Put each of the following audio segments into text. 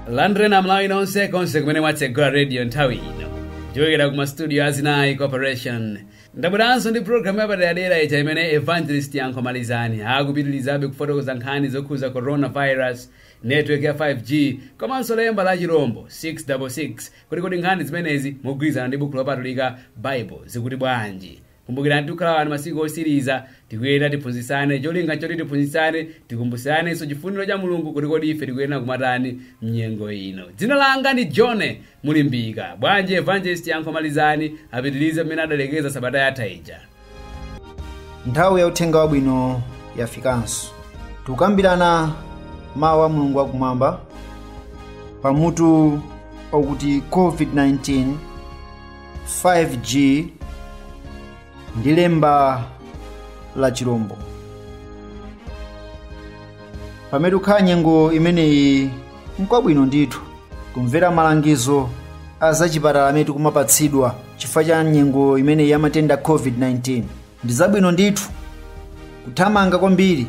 landreni Amalawi nonse konse kumene mwatsegula radio nthawi ino ndichokera ku mastudio a zinayi corporation ndabweranso ndi programu yapaderadera ija imene evangelist yankho malizani akupitirizabe kufotokoza nkhani zokhuza coronavirus network ya 5g komanso lemba la chirombo 666 kuti kodi nkhani zimenezi mogwirizana ndi bukhu lopatulika baibulo zikuti bwanji Kumbukirani tikukhala wano masiku otsiriza, tikuyenera tiphunzitsane, cholinga nchoti tiphunzitsane, tikumbutsiranenso chifuniro cha Mulungu kuti kodi ife tikuyenera kumatani mnyengo ino. Dzina langa ndi John Mulimbika. Bwanji Evangelist Yankho Malizani apitirize pamene adalekeza sabata yatha ija. nthawi ya uthenga wabwino yafikanso tikukambirana mawu a mulungu wakumwamba pamutu okuti covid-19 5G ndi lemba la chirombo. Pamene tikukhala nyengo imeneyi nkwabwino ndithu kumvera malangizo a zachipatala amene tikumapatsidwa chifukwa cha nyengo imeneyi ya matenda a COVID-19. Ndi zabwino ndithu kuthamanga kwambiri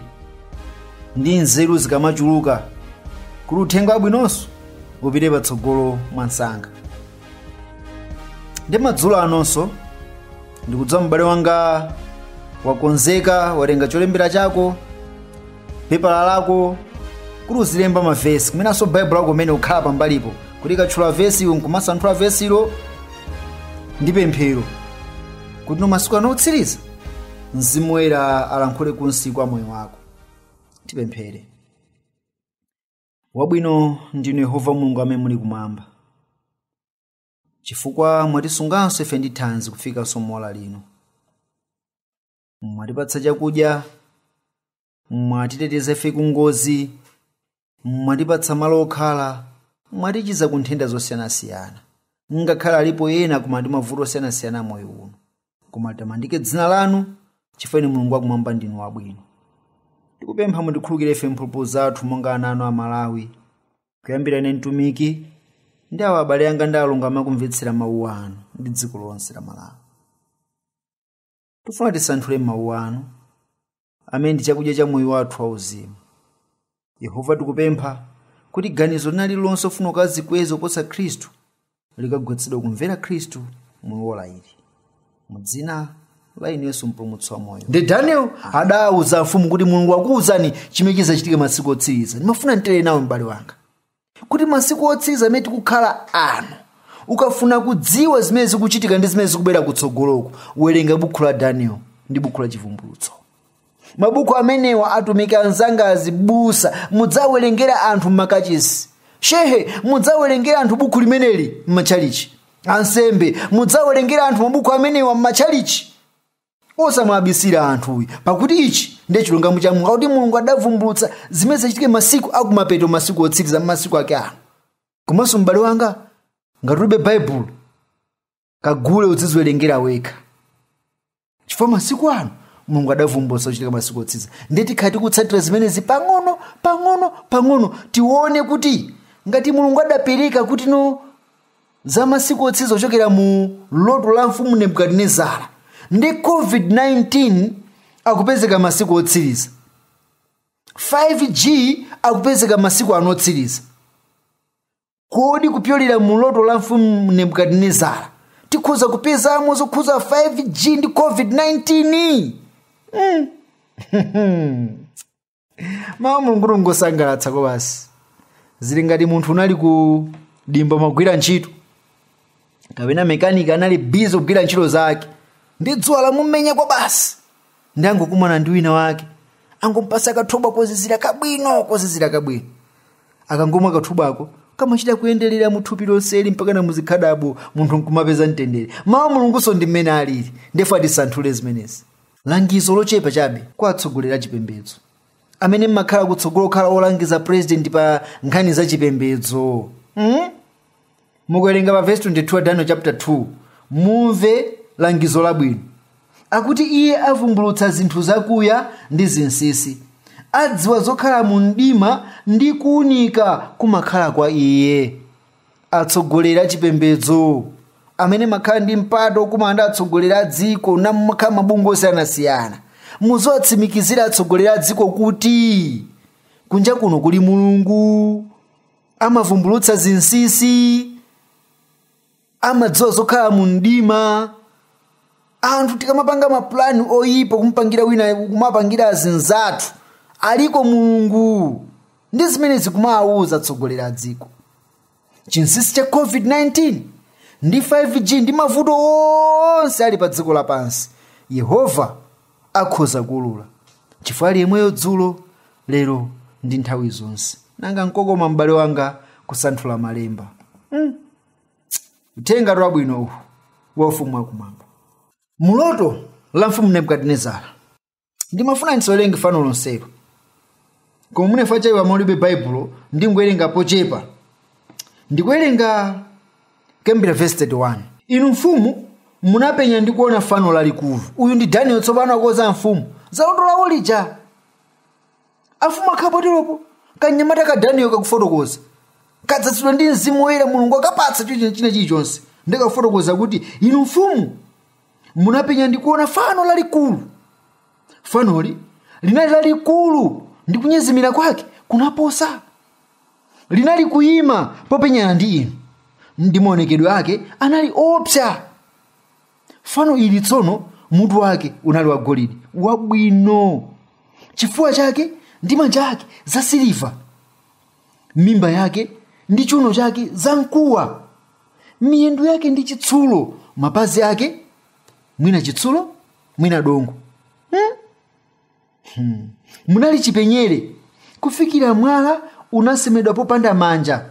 ndi nzeru zikamachuluka kuti uthenga wabwinonso upite patsogolo mwansanga. Ndi madzulo anonso ndikudziwa m'bale wanga wakonzeka watenga cholembera chako pepala lako kuti uzilemba mavesi komanso baibulo lako umene ukhala pambalipo kuti tikatchula vesi iwe nkumasanthula vesilo ndi pemphero kuti m'masiku ano otsiriza mzimu woyera alankhule ku nsinku wa moyo wako tipemphere wabwino ndinu yehova mulungu amene muli kumwamba chifukwa mwatisunganso ife ndi thanzi kufikanso mu ola lino mwatipatsa chakudya mwatiteteza ife ku ngozi mwatipatsa malo okhala mwatichiza ku nthenda zosiyanasiyana ngakhale alipo ena koma ndi mavuto osiyanasiyana a moyo uno koma litamandike dzina lanu chifukwa inu mulungu wakumwamba ndinu wabwino tikupempha mutikhululukire ife mphulupulu zathu monga ana anu Amalawi kuyambira ine mtumiki ndi awa abale anga ndi alongo amene akumvetsera mawu anu ndi dziko lonse la malawi tifuna tisanthule mawu anu amene ndi chakudya cha moyo wathu wauzimu yehova tikupempha kuti ganizo lina lililonse lofuna kukazikweza kuposa khristu likagonjetsedwe kumvera khristu mu ola ili mu dzina la inu yesu mpulumutsi wa moyo ndi daniel adawuza mfumu kuti mulungu wakuuzani chimene chizachitike masiku otsiriza ndimafuna nditere nawe m'bale wanga kuti masiku otsiriza amene tikukhala ano ukafuna kudziwa zimene zikuchitika ndi zimene zikubwera kutsogoloku werenga buku la daniel ndi buku la chivumbulutso mabuku amenewa atumiki anzanga azibusa mudziwawerengera anthu m'makachisi shehe mudziwawerengera anthu buku limeneli m'matchalichi ansembe mudziwawerengera anthu mabuku amenewa m'matchalichi osamwabisira anthu ayi pakuti ichi ndiye chilungamo cha mulungu akuti mulungu adavumbulutsa zimene zidzachitike masiku akumapeto masiku otsiriza masiku ake ano komanso m'bale wanga ngati ulibe baibulo kagule udziziwerengera wekha chifukwa masiku ano mulungu adavumbulutsa zochitika masiku otsiriza ndiye tikhala tikutsatira zimenezi pang'ono pang'ono pang'ono tione kuti ngati mulungu adapereka kuti ino za masiku otsiriza kuchokera mu loto la mfumu nebukadinezara ndi covid-19 akupezeka masiku otsiriza 5g akupezeka masiku ano otsiriza kodi kupyolera mu loto la mfumu nebukadinezara tikhoza kupezamo zokhuza 5g ndi covid-19 mm. mawu a mulungu ngosangalatsa kwabasi zili ngati munthu unali ku dimba mumagwira ntchito kapena mekaniki anali bizi kugwira ntchito zake ndi dzuwa lamumenya kwabasi ndiye angokumana ndi wina wake angompatsa kathobwa kozizira kabwino kozizira kabwino akangomwa kathobwako kamachita kuyenderera mu thupi lonseli mpaka na muzikhadabo munthu nkumapeza mtendere mawu a mulungunso ndi mmene alili ndiyetu atisanthule zimenezi langizo lochepa chabe kwa atsogoleri a chipembedzo amene mmakhala kutsogolo kukhala olangiza purezidenti pa nkhani za chipembedzo mm? mukuwerenga pa vesi 22 daniel chapter 2 mumve langizo labwino akuti iye avumbulutsa zinthu zakuya ndi zinsisi adziwa zokhala mu mdima ndi kuunika kumakhala kwa iye atsogoleri achipembedzo amene mmakhala ndi mpata okumana ndi atsogoleri a dziko ena mmakhala mabungwe osiyanasiyana muziwatsimikizira atsogoleri a dziko kuti kunja kuno kuli mulungu amavumbulutsa zinsinsi amadziwa zokhala mu mdima anthu tikamapanga mapulani oyipa kumupangira wina kumapangira azinzathu aliko mulungu ndi zimene muzikawauza atsogoleri a dziko chinsinsi cha covid-19 ndi 5g ndi mavuto onse ali pa dziko lapansi yehova akhoza kuulula chifukwa ali yemweyo dzulo lero ndi nthawi zonse nanga nkokoma m'bale wanga kusanthula malemba mm. uthenga wabwino uwu wa ufumu wakumwamba muloto la mfumu nebukadinezara ndimafuna ndisawerenge fano lonselo koma mwina chifukwa cha amene mulibe baibulo ndingowerenga pochepa ndikuwerenga kuyambira vesi 31 inu mfumu munapenya ndi kuona fano lalikulu uyu ndi daniel tsopano akuuza mfumu za loto lawo lija afumu akhala poteropo kanyamata ka daniel kakufotokoza kadzadzidwa ndi mzimu woyera mulungu akapatsa china china chilichonse ndikafotokoza kuti inu mfumu munapenya ndi kuona fano lalikulu fanoli linali lalikulu ndi kunyezimira kwake kunaposa linali kuyima popenyana ndi inu ndi maonekedwe ake anali oopsa fano ili tsono mutu wake unali wagolidi wabwino chifuwa chake ndi manja ake zasiliva mimba yake ndi chiuno chake zamkuwa miyendo yake ndi chitsulo mapazi ake mwina chitsulo mwina dongo Hmm. Munali chipenyere kufikira mwala unasemedwa popanda manja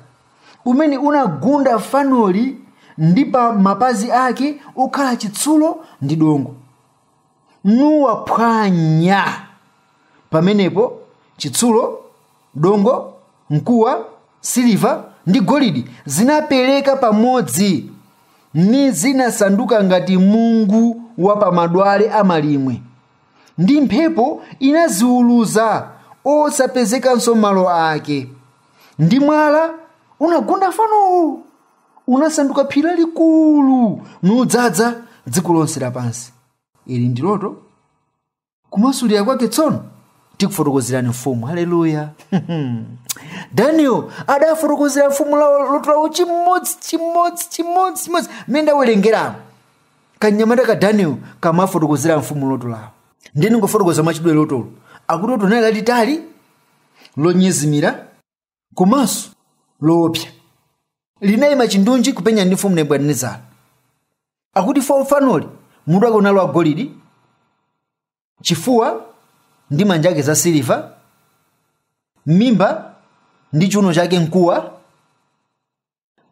umene unagunda fanoli ndi pa mapazi ake okhala chitsulo ndi dongo nuwaphwanya pamenepo chitsulo dongo mkuwa siliva ndi golidi zinapereka pamodzi ni zinasanduka ngati mungu wa pa madwale a malimwe ndi mphepo inaziuluza osapezekanso malo ake ndi mwala unagunda fanowo unasanduka phiri lalikulu nudzadza dziko lonse lapansi ili ndi loto kumasulira kwake tsono tikufotokozerani mfumu haleluya daniel adafotokozera mfumu lawo loto lawo chimodzi chimodzi chimodzi chimodzi mmene ndawerengeramo kanyamata ka daniel kamawafotokozera a mfumu loto lawo ndiye ndingofotokoza mwachidule lotolo akuti loto linali lalitali lonyezimira komanso loopsa linayima chindunji kupenyana ndi mfumu nebukadinezara akuti fo fanoli mutu wake unali wagolidi chifuwa ndi manja ake za siliva mimba ndi chiuno chake mkuwa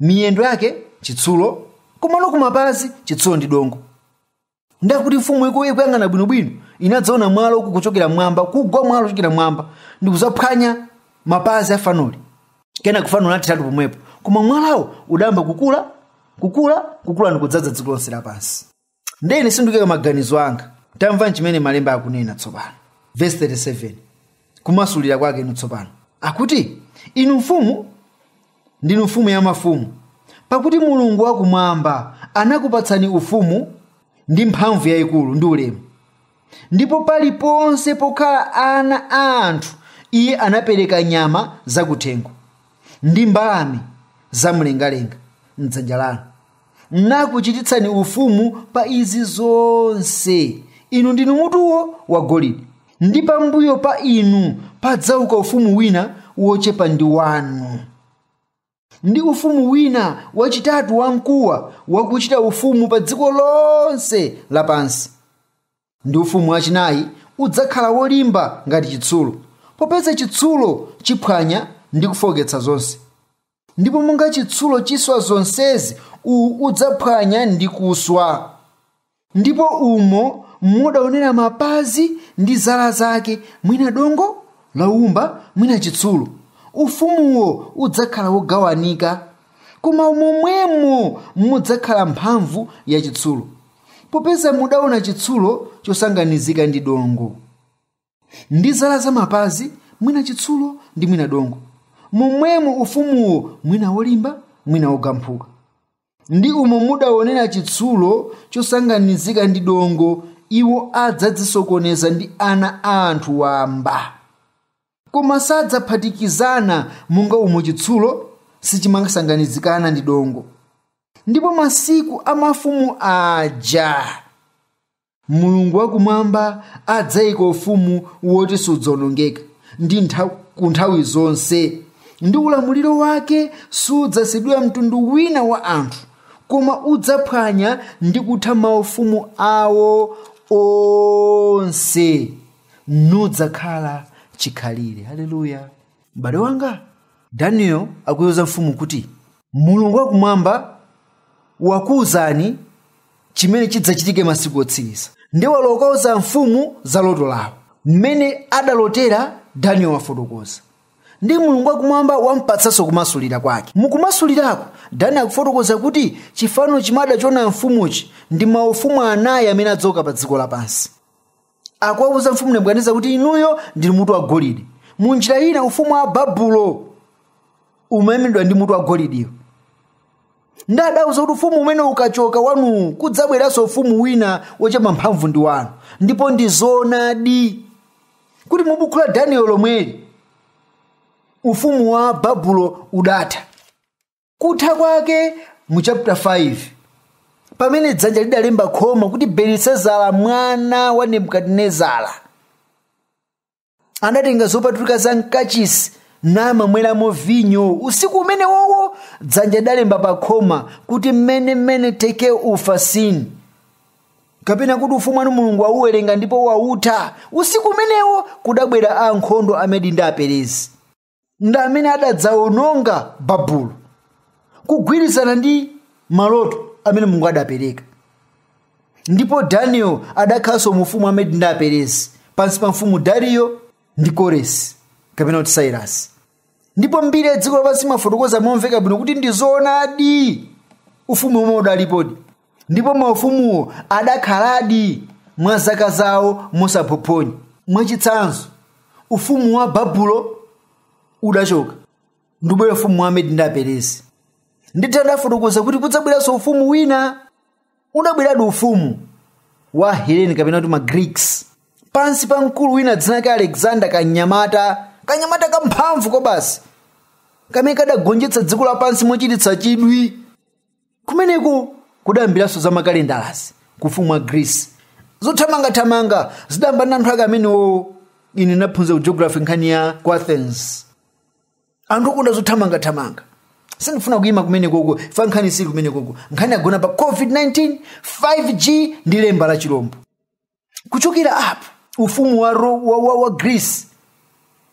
miyendo yake chitsulo komano kumapazi chitsulo ndi dongo ndiye akuti mfumu iku ikuyang'ana bwinobwino inadzaona mwala uku kuchokera m'mwamba kugwa mwala kuchokera m'mwamba ndi kudzaphwanya mapazi a fanoli kenako fano linatheratu pomwepo koma mwalawo udayamba kukula kukula kukula ndi kudzadza dziko lonse lapansi ndiye ine sindikuyika maganizo anga tamvani chimene malemba akunena tsopano vesi 37 kumasulira kwake inu tsopano akuti inu mfumu ndinu mfumu ya mafumu pakuti mulungu wakumwamba anakupatsani ufumu ndi mphamvu yayikulu ndi ulemu Ndipo paliponse pokhala ana a anthu iye anapereka nyama zakuthengo ndi mbalame zamlengalenga m'dzanja lanu, nakuchititsani ufumu pa izi zonse. Inu ndinu mutuwo wagolide, ndi pambuyo pa inu padzauka ufumu wina wochepa ndi wanu. Ndi ufumu wina wachitatu wamkuwa wakuchita ufumu pa dziko lonse lapansi. Ndi ufumu wachinayi udzakhala wolimba ngati chitsulo, popeza chitsulo chiphwanya ndi kufooketsa zonse. Ndipo monga chitsulo chiswa zonsezi, uwu udzaphwanya ndi kuswa. ndipo umo mudaonera mapazi ndi zala zake mwina dongo la woumba mwina chitsulo ufumuwo udzakhala wogawanika koma momwemo mudzakhala mphamvu ya chitsulo popeza mudaona chitsulo chosanganizika ndi dongo ndi zala za mapazi mwina chitsulo ndi mwina dongo momwemo ufumuwo mwina wolimba mwina wogamphuka ndi umo mudaonera chitsulo chosanganizika ndi dongo iwo adzadzisokoneza ndi ana a anthu wamba koma sadzaphatikizana monga umo chitsulo sichimasanganizikana ndi dongo ndipo masiku a mafumu aja Mulungu wakumwamba adzaika ufumu woti sudzawonongeka ndi ntha, ku nthawi zonse, ndi ulamuliro wake sudzasiyidwira mtundu wina wa anthu, koma udzaphwanya ndi kutha maufumu awo onse, nudzakhala chikhalire. Haleluya! M'bale wanga, Daniel akuiuza mfumu kuti Mulungu wakumwamba wakuuzani chimene chidzachitike masiku otsiriza ndi walowa kukauza mfumu za loto lawo mmene adalotera daniel wafotokoza ndi mulungu wakumwamba wampatsanso kumasulira kwake mukumasulirako daniel akufotokoza kuti chifano chimene adachiona amfumuchi ndi maufumu anayi amene adzauka pa dziko lapansi akuwauza mfumu nebukadineza kuti inuyo ndinu mutu wa golide mu njira ina ufumu wa babulo umayimiridwa ndi mutu wa golidiyo ndi adawauza kuti ufumu umene ukachoka wanuwu kudzabweranso ufumu wina wochepa mphamvu ndi wanu ndipo ndi zoonadi kuti mu buku la daniel lomweli ufumu wa babulo udatha kutha kwake mu chapter 5 pamene dzanja lidalemba khoma kuti belisazara mwana wa nebukadinezara anatenga zopatulika za mkachisi namamweramo vinyo usiku umenewowo dzanja lidalemba pa khoma kuti mene mene teke ufasini kapena kuti ufumu wanu mulungu wauwerenga ndipo wautha usiku umenewo kudabwera ankhondo amedi ndi aperezi ndi amene adadzawononga babulo kugwirizana ndi maloto amene mulungu adapereka ndipo daniel adakhalanso mu ufumu wa medi ndi aperezi pansi pa mfumu dariyo ndi koresi kapena kuti sairasi ndipo mbiri ya dziko lapansi imafotokoza momveka bwino kuti ndi zoonadi ufumu omwe udalipodi ndipo maufumuwo adakhaladi mwa zaka zawo mosaphophonya mwachitsanzo ufumu wa babulo udachoka ndubwera ufumu wa medi ndi aperesi ndithu adafotokoza kuti kudzabweranso ufumu wina udabweradi ufumu wa heleni kapena kuti magreeks pansi pa mkulu wina dzina lake alexander kanyamata kanyamata kamphamvu kwabasi kamene kadagonjetsa dziko lapansi mochititsa chidwi kumeneko kudayambiranso za makalendalazi ku ufumu wa greece zothamangathamanga zidayamba na anthu ake amenewo ine naphunzira ku geography nkhani ya ku athens anthu okonda zothamangathamanga sindifuna kuyima kumenekoko chifukwa nkhani siili kumenekoko nkhani yagona pa covid-19 5g ndi lemba la chilombo kuchokera apo ufumu wa, Ro- wa, wa, wa greece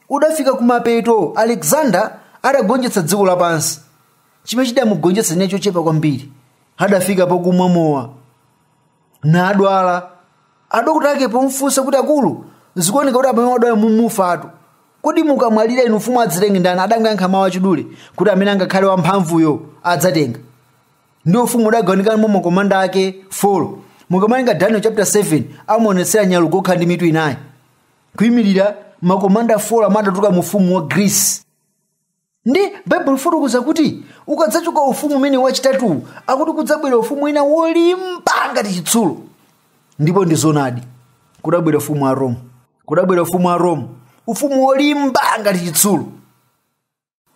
udafika kumapeto alexander adagonjetsa dziko lapansi chimene chidamugonjetsa chinali chochepa kwambiri adafika pokumwa mowa nadwala adokota ake pomfunsa kuti akulu zikuoneka kuti mmene mwadwalamu mufatu kodi mukamwalira inu ufumu adzatenge ndani adangoyankha mawu achidule kuti amene angakhale wamphamvuyo adzatenga ndiye ufumu udagawanikana mwa makomanda ake 4 mukawerenga daniel chapter 7 amaonetsera nyalugwe wokhala ndi mitu inayi kuyimirira makomanda 4 omwe adatuluka mu ufumu wa greece ndi baibulo likufotokoza kuti ukadzachoka ufumu umene wachitatuwu akuti kudzabwera ufumu wina wolimba ngati chitsulo ndipo ndi zonadi kudabwera ufumu wa rome kudabwera ufumu wa rome ufumu wolimba ngati chitsulo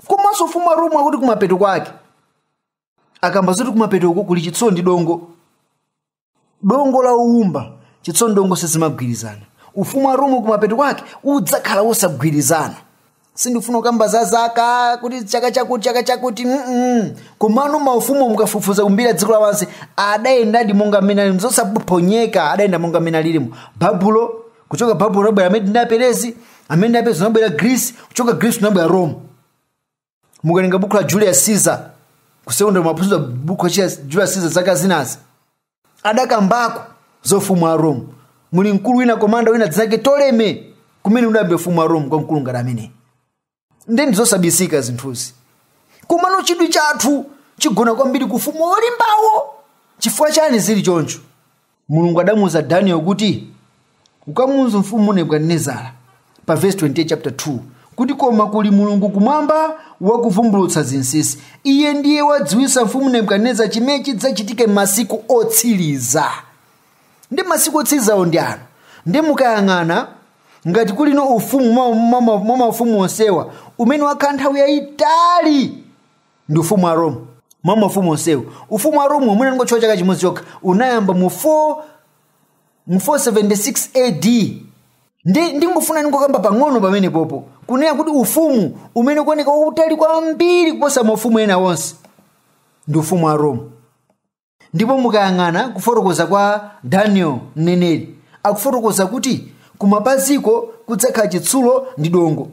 komanso ufumu wa roma akuti kumapeto kwake akamba zoti kumapetoko kuli chitsulo ndi dongo dongo la woumba chitsulo ndi dongo sizimagwirizana ufumu wa roma kumapeto kwake udzakhala wosagwirizana sindifuna kukamba za zaka kuti chaka chakuti chaka chakuti mm komano maufumu mukafufuza ku mbiri ya dziko lapansi adayendadi monga mmene alimo zosaphonyeka adayenda monga mmene alilimo babulo kuchoka babulo unabwera amedi ndi aperezi amedi ndi aperezi unabwera greece kuchoka greece unabwera rome mukalinga buku la julius caesar kusekondera maphunziro buku la julius caesar zaka zinazi adakambako za ufumu wa rome muli mkulu wina komanda wina dzina lake toleme kumene udayamba ufumu wa rome kwa mkulu ngati ameneyi nde ndizosabisika zinthuzi komano chidwi chathu chigona kwambiri ku ufumu wolimbawo chifukwa chani zili choncho mulungu adamuuza daniel kuti ukamuuza mfumu nebukadinezara pa vesi 28 chapter 2 kuti koma kuli mulungu kumwamba wakuvumbulutsa zinsinsi iye ndiye wadziwitsa mfumu nebukadinezara chimene chidzachitika m'masiku otsiriza ndi masiku otsirizawo ndi ano nde mukayang'ana ngati kuli ufumu mwa- mwa- mwa mwa maufumu onsewa umene wakhala nthawi yayitali ndi ufumu wa roma mwa maufumu onsewo ufumu wa roma umene anangotchula chaka chimodzi chokha unayamba mu 4 mu 476 ad ndi ndingofuna ndingokamba pang'ono pamenepopo kunena kuti ufumu umene ukuoneka wautali kwambiri kuposa maufumu ena onse ndi ufumu wa roma ndipo mukayang'ana kufotokoza kwa daniel mneneri akufotokoza kuti kumapaziko kudzakhala chitsulo ndi dongo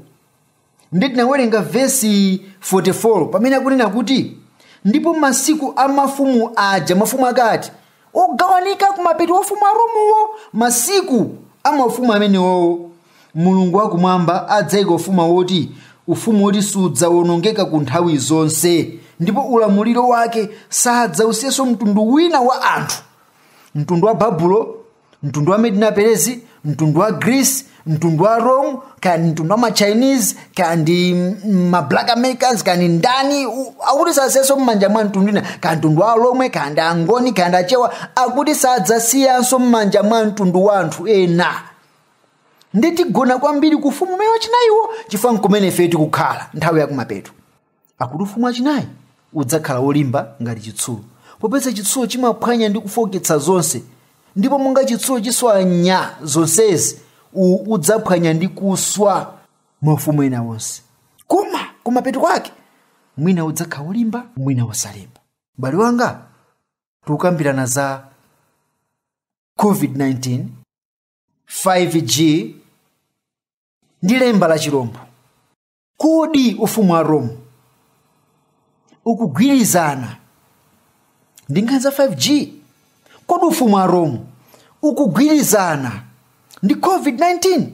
nde tinawerenga vesi 44 pamene akunena kuti ndipo masiku a mafumu aja mafumu akati ogawanika kumapeto ufumu wa romuwo masiku a mafumu amenewowo Mulungu wa Kumwamba adzaika ufuma woti, ufumu woti sudzawonongeka ku nthawi zonse, ndipo ulamuliro wake sadzausiyanso mtundu wina wa anthu, mtundu wa Babulo, mtundu wa Medi na Perezi, mtundu wa Greece, mtundu wa Rome, kaya ndi mtundu wa ma Chinese, kaya ndi mm, ma Black Americans, kaya ndi ndani, u- akuti sadzasiyanso m'manja mwa mtundu wina, kaya mtundu wa Alomwe, kaya ndi Angoni, kaya ndi Achewa, akuti sadzasiyanso m'manja mwa mtundu wa anthu ena. nde tigona kwambiri ku ufumu umenewu wachinayiwo chifukwa nkumene ifeyo tikukhala nthawi yakumapeto akuti ufumu wachinayi udzakhala wolimba ngati chitsulo popeza chitsulo chimaphwanya ndi kufoketsa zonse ndipo monga chitsulo chiswanya zonsezi uwu udzaphwanya ndi kuswa maufumu ena onse koma kumapeto kwake mwina udzakhala wolimba mwina wosalimba m'bale wanga tikukambirana za covid-19 5G ndi lemba la chirombo. Kodi ufumu wa Rome ukugwirizana ndi nkhani za 5G? Kodi ufumu wa Rome ukugwirizana ndi COVID-19?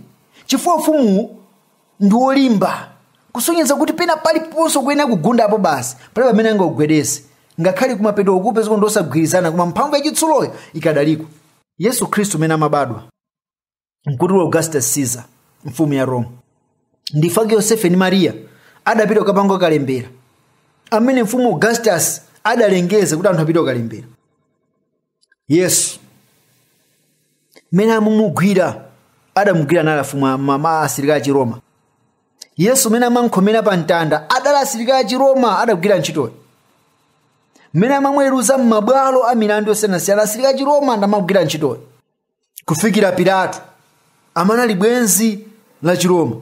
Chifukwa ufumuwu ndi wolimba kusonyeza kuti pena paliponse ukuyenera kugundapo basi palibe amene angagwedeze ngakhale kumapeto ukupezeka ndi osagwirizana koma mphamvu yachitsuloyo ikadaliko yesu khristu umene amabadwa mkuti wa augustus caesar mfumu ya roma ndipo ake yosefe ndi mariya adapita kukapanga kalembera amene mfumu augustus adalengeza kuti anthu apite kukalembera yesu mmene amumugwira adamugwira nali afumu a- ma- ma- asilikali achiroma yesu mmene amankhomera pa mtanda adali asilikali achiroma adagwira ntchitoyo mmene amamweruza m'mabwalo a milandu yosiyanasiyana asilikali achiroma ndamagwira ntchitoyo kufikira pilato amene ali bwenzi la chiroma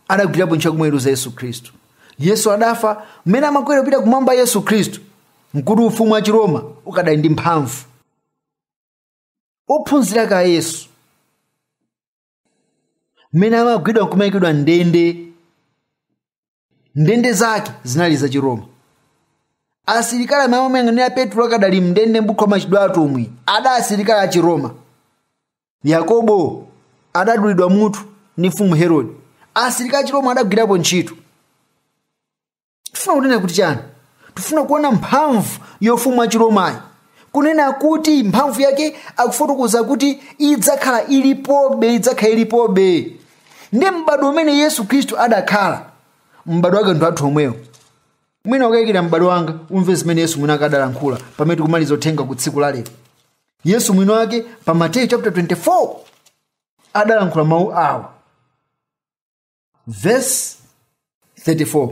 adagwirapo ntchito kumweruza yesu khristu yesu adafa mmene amakwera kupita kumwamba yesu khristu mkuti ufumu wa chiroma ukadali ndi mphamvu ophunzira ake a yesu mmene amagwidwa nkumayikidwa mndende ndende zake zinali za chiroma asilikali amene amayang'anira petro akadali mndende m'buku la machitidwe a atumwi adali asilikali a chiroma yakobo adadulidwa mutu ndi mfumu herode asilikali a chiroma adagwirapo ntchito tifuna kunena kuti chani tifuna kuona mphamvu yofumu wa chiromayi kunena kuti mphamvu yake akufotokoza kuti idzakhala ilipobe idzakhala ilipobe ndiye m'bado umene yesu khristu adakhala m'bado wake ndi wathu omwewo mwina ukayikira m'bale wanga umve zimene yesu mwini wake adalankhula pamene tikumaliza uthenga wa tsiku la lero yesu mwini wake pa mateyu chapter 24 adalankhula mawu awa vesi 34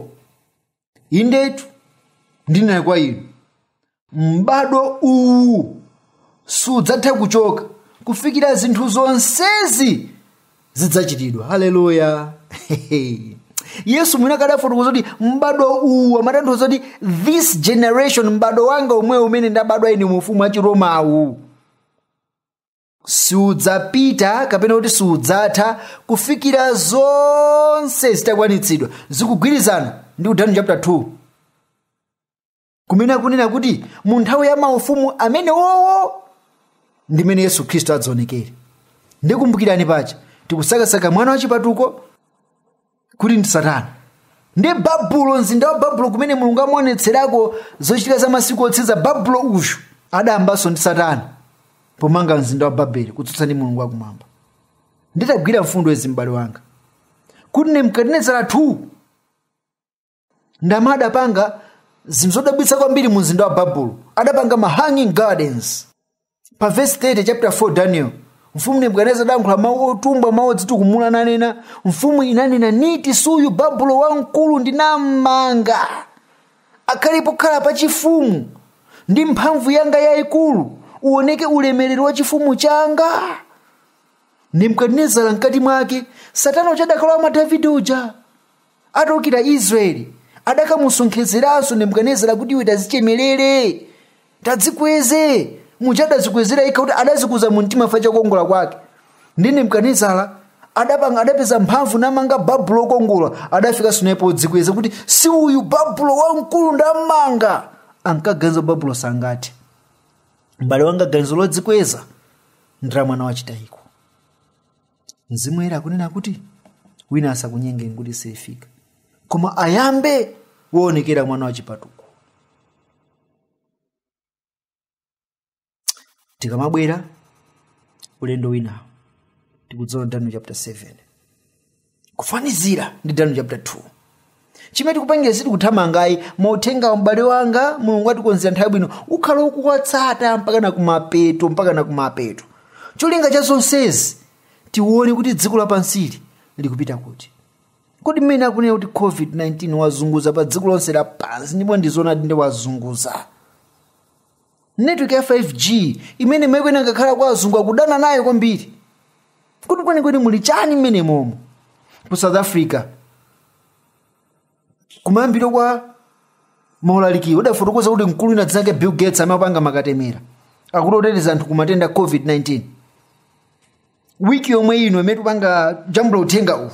indetu ndinena kwa inu m'bado uwu sudzatha kuchoka kufikira zinthu zonsezi zidzachitidwa haleluya yesu mwini wake adafotokoza kuti m'bado uwu amatanthauza kuti this generation m'bado wanga omwewu umene ndabadwa ine mu ufumu wa chiroma uwu siudzapita kapena kuti siudzatha kufikira zonse zitakwanitsidwa zikugwirizana ndi ku danieli chapter 2 kumene akunena kuti mu nthawi ya maufumu amene wowo ndi mmene yesu khristu adzaonekere ndikumbukirani paja tikusakasaka mwana wachipatuko kuti ndi satana ndi babulo mzinda wa babulo kumene mulungu amaonetserako zochitika za masiku otsiriza babulo uyu adayambanso ndi satana pomanga mzinda wa babeli kutsutsa ndi mulungu wakumwamba ndiye tagwira mfundo izi m'bale wanga kuti nebukadinezara 2 ndipo adapanga zinthu zodabwitsa kwambiri mu mzinda wa babulo adapanga ma hanging gardens pa vesi 30 chapter 4 daniel mfumu nebukadineza adankhula mawu otumbwa mawu odzitukumula nanena mfumu inanena niti si uyu babulo wamkulu ndinammanga akhale pokhala pachifumu ndi mphamvu yanga yayikulu uoneke ulemerero wa chifumu changa nebukadinezara mkati mwake satana uja adakalowa mwa davide uja Ataukira Israeli, adakamusonkhezeranso Nebukadinezara kuti iwe tazichemerere, tadzikweze, muja adazikwezera yekha kuti adazikuza mu mtima chifukwa cha kukongola kwake. Ndi Nebukadinezara adapanga adapeza mphamvu namanga Babulo okongola, adafikanso naye podzikweza kuti si uyu Babulo wamkulu ndamanga. Ankaganiza Babulo sangathe. Mbale wanga ganizo lodzikweza ndi la mwana wa chitayiko. mzimu woyera akunena kuti wina asakunyengeni kuti sifika koma ayambe woonekera mwana wa chipatuko tikamabwera ulendo winawo tikudzaona daniel chapter 7 kufanizira ndi daniel chapter 2 chimene tikupangira sitikuthamanga ayi mauthengawa m'bale wanga mulungu atikonzera nthawi bwino ukhala ukuwatsata mpaka na kumapeto mpaka na kumapeto cholinga cha zonsezi tione kuti dziko lapansili likupita kuti kodi mmene akunena kuti covid-19 wazunguza pa dziko lonse lapansi ndipo ndi zoonadi ndi wazunguza network ya 5g imene maiko ena angakhala kwa azungu akudana nayo kwambiri kuti kwenikweni muli chani mmenemomo ku south africa kumayambiro kwa maulalikiwo ndidafotokoza kuti mkulu wina dzina lake bill gates amapanga makatemera akuti oteteza anthu ku matenda a covid-19 wiki yomwe ino imene tupanga jambula uthenga uwu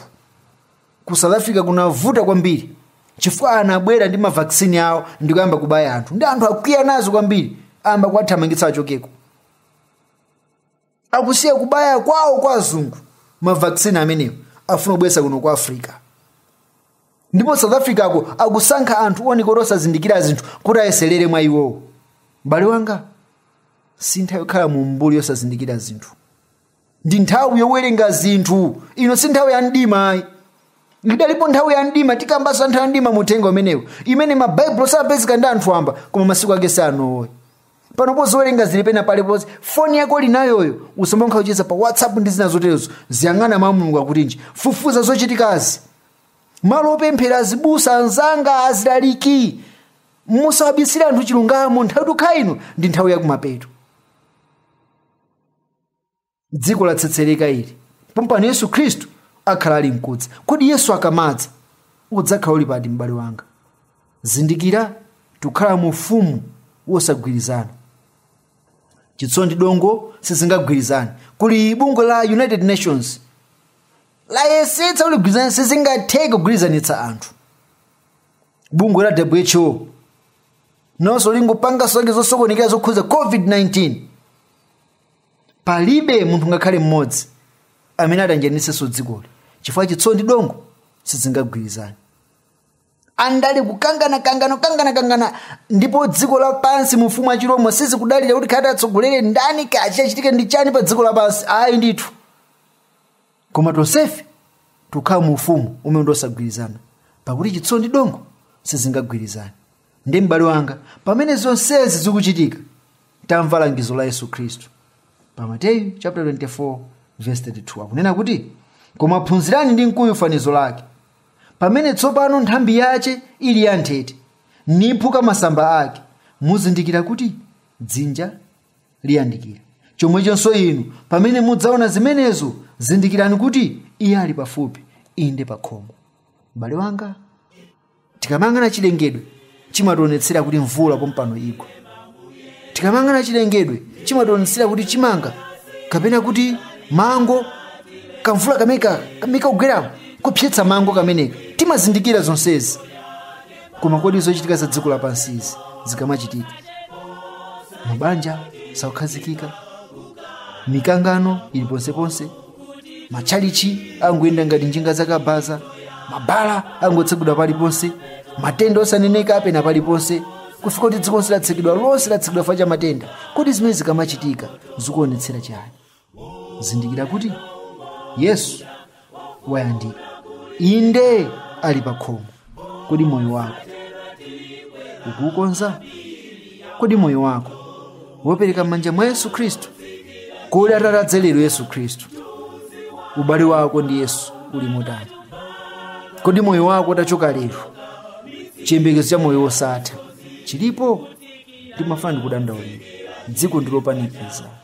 ku south africa kunavuta kwambiri chifukwa anabwera ndi mavaksini awo ndikuyamba kubaya anthu ndi anthu akwiya nazo kwambiri ayamba kuwathamangitsa achokeko akusiya kubaya kwawo kwa azungu mavaksini amenewo afuna kubweretsa kuno ku africa ndipo south africako akusankha anthu ooneka kuti osazindikira zinthu kuti ayeserere mwa iwowo m'bale wanga si nthawi yokhala mu mbuli yosazindikira zinthu ndi nthawi yowerenga zinthu ino si nthawi ya mdima ayi idalipo nthawi ya mdima tikambanso za nthawi ya mdima mu uthenga umenewu imene mabaibulo sankapezeka ndi anthu amba koma masiku ake si ano ayi panopo zowerenga zili pena paliponse foni yako uli nayoyo usamangocheza pa whatsapp ndi zina zoterezo uziyang'ana mawu a mulungu akuti chiyani fufuza zochitikazi malo opemphera azibusa anzanga azilaliki musawabisire anthu chilungamo nthawi tikukhala ino ndi nthawi yakumapeto dziko latsetsereka ili pompano yesu khristu akhala ali mkudza kodi yesu akamadza udzakhala uli pati m'bale wanga zindikira tikukhala mu ufumu wosagwirizana chitsulo ndi dongo sizingagwirizane kuli bungwe la united nations layesetsa kuti ligwirizane sizingatheke kugwirizanitsa anthu bungwe la who nonso lingopanga zake zosokonekera zokhuza covid-19 palibe munthu ngakhale mmodzi amene atanjanitsenso dzikoli chifukwa chitsulo ndi dongo sizingagwirizane andale kukangana kangana kukangana kangana ndipo dziko lapansi mu ufumu wa chiroma sizikudalira kuti kaya atsogolere ndani kaya chichitike ndi chani pa dziko lapansi ayi ndithu koma tonsefe tukhala mu ufumu umene ndosagwirizana pakuti chitsulo ndi dongo sizingagwirizane ndi m'bale wanga pamene zonsezi zikuchitika tamva langizo la yesu khristu pa mateyu chapter 24 verse 32 akunena kuti koma phunzirani ndi mkuyu fanizo lake Pamene tsopano nthambi yace ili yanthete, niphuka masamba ake, muzindikira kuti dzinja liyandikira. Comweconso inu, pamene mudzaona zimenezo, zindikirani kuti iye ali pafupi, inde pakhomo. M'bale wanga, tikamayang'ana cilengedwe, chimationetsera kuti mvula pompano igwa tikamayang'ana chilengedwe chimationetsera kuti chimanga kapena kuti mango kamvula kameneka kamagwera kopsetsa mango kameneka timazindikira zonsezi koma kodi zochitika za dziko lapansizi zikamachitika mabanja sakukhazikika mikangano ili ponseponse matchalitchi angoyenda ngati njinga zakabaza mabala angotsegulidwa paliponse matenda osaneneka afika paliponse kufika kuti dziko lonse latsekedwa lonse latsekedwa chifukwa cha matenda kodi zimenezi zikamachitika zikuonetsera chani zindikira kuti yesu wayandikira inde ali pa khomo Kodi moyo wako ukuukonza? Kodi moyo wako waupereka m'manja mwa Yesu Khristu? Kodi atati adze lero Yesu Khristu, ubale wako ndi Yesu uli motani? Kodi moyo wako utachoka lero, chiyembekezo cha moyo wosatha chilipo? Ndimafuna ndikudandaulire, dziko ndilopanikiza.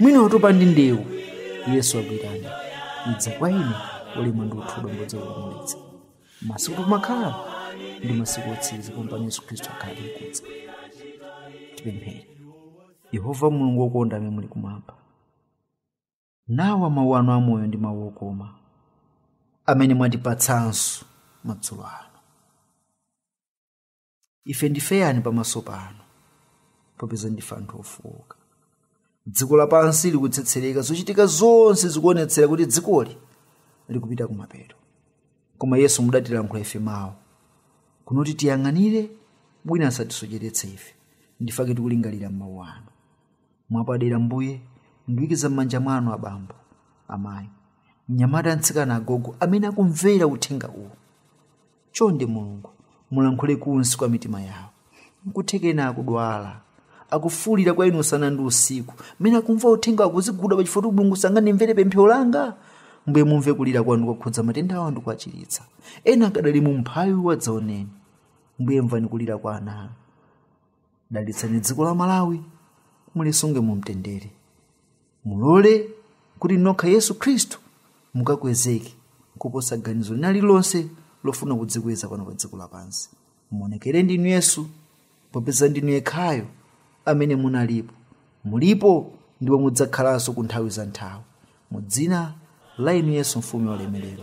mwina watopa ndi ndewu yesu akuitana idza kwa ine olema ndi othodwa ndidzakupumulitsa masiku tikukhala ndi masiku otsiriza pompano yesu khristu akhala ali nkudza tipemphere yehova mulungu wokonda amene muli kumwamba nawa mawu anu amoyo ndi mawu okoma amene mwatipatsanso madzulo ano ife ndife ayani pamaso panu popeza ndife anthu ofowoka dziko lapansi likutsetsereka zochitika zonse zikuonetsera kuti dzikoli likupita kumapeto koma yesu mudatilankhula ife mawu kunena kuti tiyang'anire wina asatisocheretse ife nchifukwa chake tikulingalira m'mawu anu mwapadera mbuye ndiwikiza m'manja mwanu abambo amayi mnyamata mtsikana agogo amene akumvera uthenga uwu chonde mulungu mulankhule kunsi kwa mitima yawo nkuthekena akudwala akufuulira kwa inu usana ndi usiku mmene akumva uthenga akuziguda pachifuwa kuti mulungu sangandimvere pemphero langa mbuye mumve kulira kwawo ndi kuwakhudza matenda awo ndi kuwachiritsa ena akadali mu umphawi wadzaoneni mbuye mvani kulira kwa ana anu dalitsani dziko la malawi mulisunge mu mtendere mulole kuti inu nokha yesu khristu mukakwezeke kuposa ganizo lina lililonse lofuna kudzikweza pano pa dziko lapansi muonekere ndinu yesu popeza ndinu yekhayo amene munalipo mulipo ndipo mudzakhalanso ku nthawi za nthawi mu dzina la inu yesu mfumu ya ulemelero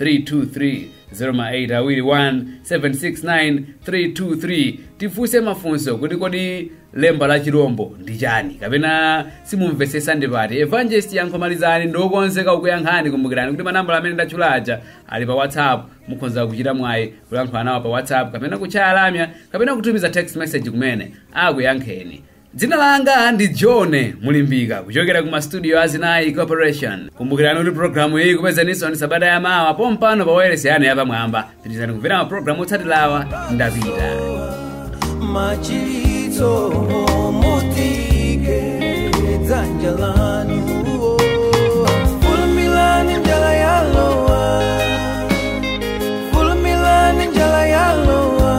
323 08 awiri 1 769 323 kufunsa mafunso kuti kodi lemba la chirombo ndi chani kapena simukumvetsetsa ndi pati evangelist yankho malizani ndi okonzeka kukuyankhani kumbukirani kuti manambala amene ndatchula aja ali pa whatsapp mukhonza kuchita mwayi kulankhula nawo pa whatsapp kapena kutchaya lamya kapena kutumiza text message kumene akuyankheni dzina langa ndi john mulimbika kuchokera ku mastudio a zinayi corporation kumbukirani kuti programu iyi ikupezaninso ndi sabata ya mawa pompano pa wailesi yanu yapamwamba pitirizani kumvera mapulogalamu otsatirawa ndapita machiritso mutuke dzanja lanu fulumilani njala yalowa fulumilani njala yalowa